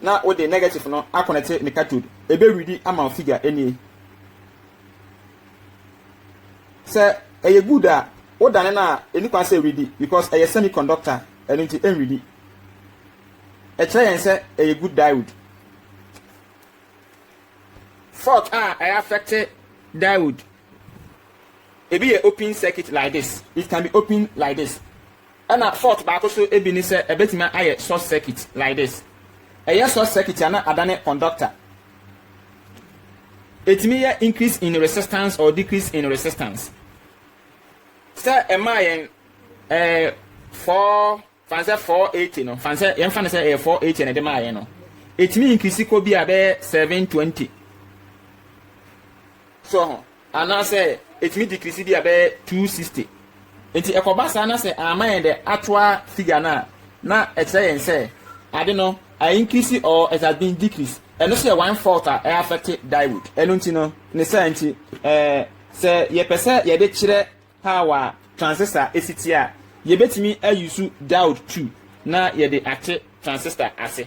Na wode negative no akɔnɛte ne cathode. Ɛbɛ readi ama wo figure ɛnie. Sɛ ɛyɛ good a, wo dane no a, ɛni kwan sɛ ɛreadi because ɛyɛ semiconductor, ɛno nti ɛnreadi. Ɛkyerɛ yɛn sɛ ɛyɛ good diode. Fault a ɛyɛ affect diode. Ebi yɛ open circuit like this. It can be open like this. Ɛna fault baako so bi ne sɛ ɛbɛtumi ayɛ short circuit like this. Ɛyɛ short circuit a na adane conductor. Ɛtumi yɛ increase in resistance or decrease in resistance. Sɛ ɛmaa yɛn ɛɛ four fan sɛ four eighty no fan sɛ yɛn fa no sɛ ɛyɛ four eighty na ɛde maa yɛn no ɛtumi increase kɔ bi a bɛyɛ seven twenty. So ho. Anaasɛ ɛtumi decrease bi a bɛyɛ 260. Nti ɛkɔba saa na sɛ amma yɛn the actual figure no a, na ɛkyerɛ yɛn sɛ ade no a increase or it has been decrease. Ɛno nso yɛ one fault a ɛ affect diode. Ɛno nti no, ne saa nti ɛɛ sɛ yɛpɛ sɛ yɛde kyerɛ power a transistor si teɛ a, yɛbɛtumi a use diode two na yɛde ate transistor ase.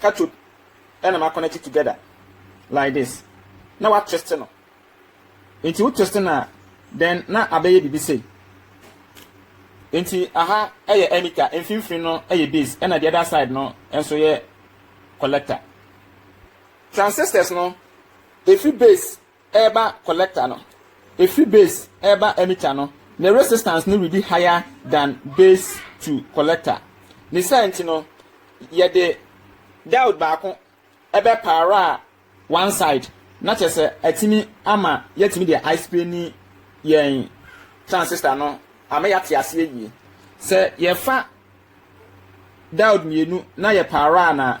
cathode na ma connect together like this na wa twist no nti wo twist no a then na abɛyɛ biribi sei nti aha yɛ emitter mfimfini no yɛ base ɛna the other side no nso yɛ collector transistors no efi base ɛreba collector no, ɛfiri base ɛreba emitter no, ne resistance no redi higher than base to collector. Ne saa nti no, yɛde diode baako ɛbɛ power one side, na kyerɛ sɛ atumi ama yɛatumi deɛ explaini yɛn transistor no ama yɛate aseɛ yie. Sɛ yɛfa diode mmienu na yɛ power no a,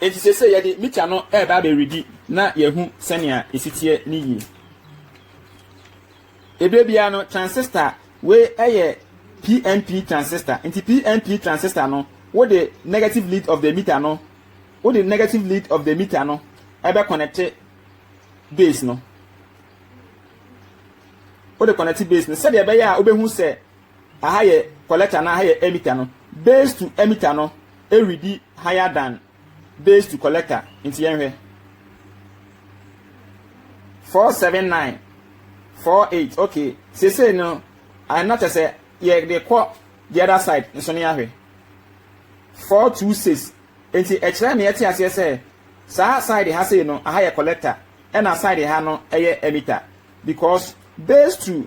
Enti seesei yɛde mita no reba abɛredi na yɛahu sɛnea esi teɛ no yie. Ebere biara no transistor wei yɛ PNP transistor. Nti PNP transistor no wode negative lead of the meter no wode negative lead of the meter no ɛbɛ connect base no wode connect base no sɛdeɛ ɛbɛyɛ a wobɛhu sɛ Aha yɛ collector na aha yɛ emitter no. Base to emitter no redi higher than base to collector. Nti yɛnhwɛ. 479 48 okay sesei no ɛna kyɛ sɛ yɛde kɔ the other side nso ne ahwɛ 426 nti ɛkyerɛ me ɛte aseɛ sɛ saa side ha sei no aha yɛ collector ɛna side ha no ɛyɛ emitter because base to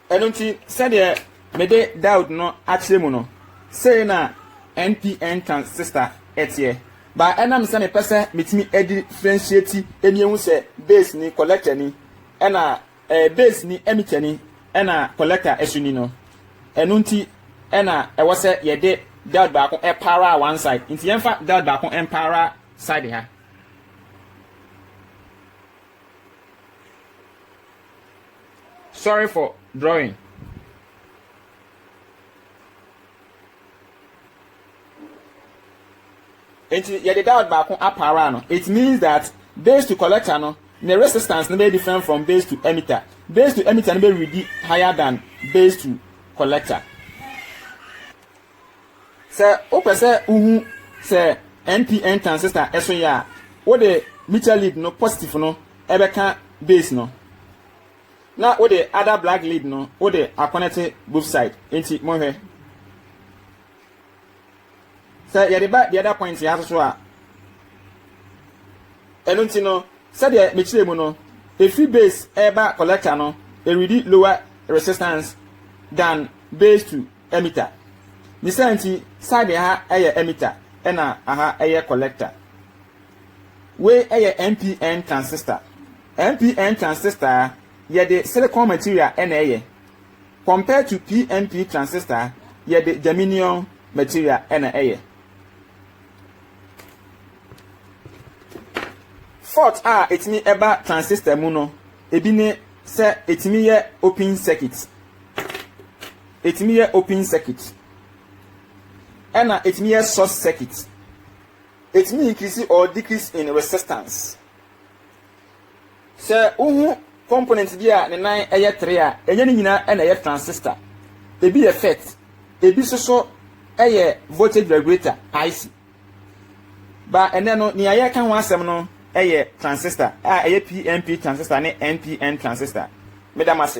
Ɛno nti, sɛdeɛ mede Daud no akyerɛ mu no, sei na NPN ka sista ɛteɛ. Ba ɛnam sɛ mepɛ sɛ metumi ɛdifrɛnhyiati ɛmi ɛhu sɛ bass ni, collector ni, ɛna ɛɛ bass ni, emitter ni, ɛna collector ɛso ni no, ɛno nti ɛna ɛwɔ sɛ yɛde Daud baako ɛpower one side. Nti yɛmfa Daud baako ɛmpower side ha. Sorry for drawing. nti yɛde dot baako apaara no it means that base to collector no ne resistance no bɛyɛ different from base to emitter base to emitter no bɛ ready higher than base to collector. Sɛ wopɛ sɛ wuhu sɛ NPN transistor so ye a, wode mutual lead no positive no bɛka base no, na wode other black lead no wode akɔnɛte both side. Enti monhwɛ. Sɛ yɛde ba the other point ya so so a, ɛno nti no, sɛdeɛ mekyerɛ mu no, ɛfiri base ɛreba collector no, ɛredi lower resistance than base to Emitter. Ne saa nti side ɛha ɛyɛ emitter ɛna aha ɛyɛ collector. Wei ɛyɛ NPN transistor. NPN transistor yɛde silicon material ɛna ɛyɛ compared to PNP transistor yɛde germanium material ɛna ɛyɛ. Fault a ɛtumi ɛba transistor mu no ebi ne sɛ ɛtumi yɛ open circuit. Ɛtumi yɛ open circuit ɛna ɛtumi yɛ short circuit. Ɛtumi increase or decrease in resistance. Sɛ wohu component bi a ne nan ɛyɛ tere a, ɛnyɛ ne nyinaa ɛna ɛyɛ transistor. Ebi yɛ FET, ebi nso so ɛyɛ voltage regulator IC. Ba ɛnɛ no nea yɛka ho asɛm no ɛyɛ transistor a ɛyɛ PNP transistor ne NPN transistor. Meda mo ase.